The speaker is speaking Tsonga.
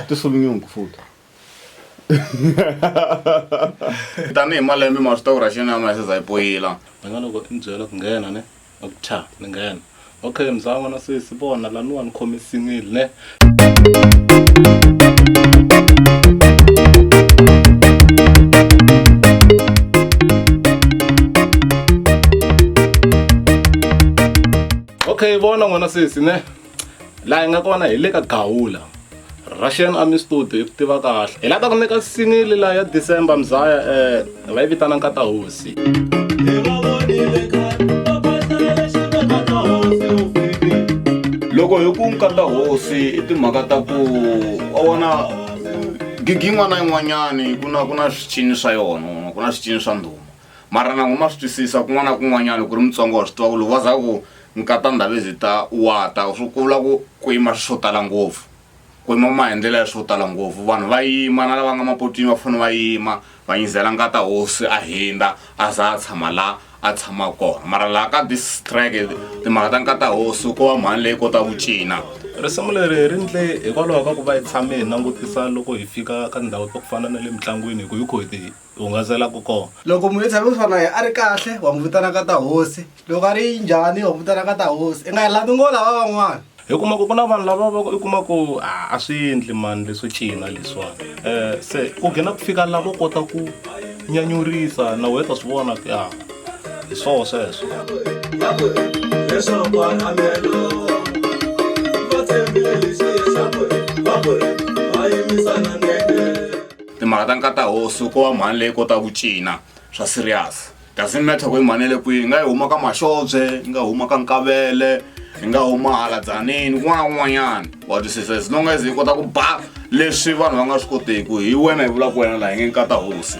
Tusol nyungu futa. tanihi malembe ma swi tiva ku ra xinama ya seza yi poyila ni nga loko i byela ku nghena ne a ku tha ni nghena okay mzan'wana sesi vona laniwa ni khomisinile ne okay vona n'wana sesi ne laha hi nga kona hi le ka gawula russian army studio hi ku tiva kahle hi lava ta ku nyika sinili laha ya december mzaya um Hi nga yi vitana nkata hosi. Loko hi ku nkata hosi i timhaka ta ku wa vona gigi yin'wana na yin'wanyani ku na ku na swicini swa yona ku na swicini swa ndhuma mara na huma swi twisisa kun'wana na kun'wanyana loko ri mutsonga wa swi tiva ku loko va za ku nkata ndhavezitha wa ta swi ku vula ku ku yima swo tala ngopfu ku noma hi ndlela ya swo tala ngopfu vanhu va yima na lava nga mapotwini va fanele va yima va nyizela ngata hosi a hindza a za a tshama laha a tshama kona mara laha ka this track timhaka ta nkata hosi ko va mhani leyi kota ku cina risimu leri ri ndle hikwalaho ka ku va hi tshame hi langutisa loko hi fika ka ndhawu ta ku fana na le mitlangwini hi ku hi kho hi ti u hungasela ku kona loko munhu i tshame kusuka na ye a ri kahle wa n'wi vitana ka ta hosi loko a ri njhani wa n'wi vitana ka ta hosi i nga yi landi ngo lava van'wana hi kuma ku ku na vanhu lava va i kuma ku a a swi endli mani leswo cina leswiwani um se ku gina ku fika lavo kota ku nyanyurisa na wena ta swi vona ku ya hi swoho sweswo leswaku anamelo va tshembile lexi leswaku va ku ri va yimisana nene timhaka ta nkata hosi ko va mhani leyi kotaka ku cina swa serious doesn't matter ku i mhani le kwihi nga yi huma ka maxobye yi nga huma ka nkavele yi nga huma hala dzanini kun'wana kun'wanyana wa twisisa as long as yi kota ku ba leswi vanhu va nga swi koteki hi wena hi vulaka wena laha yi nge nkata hosi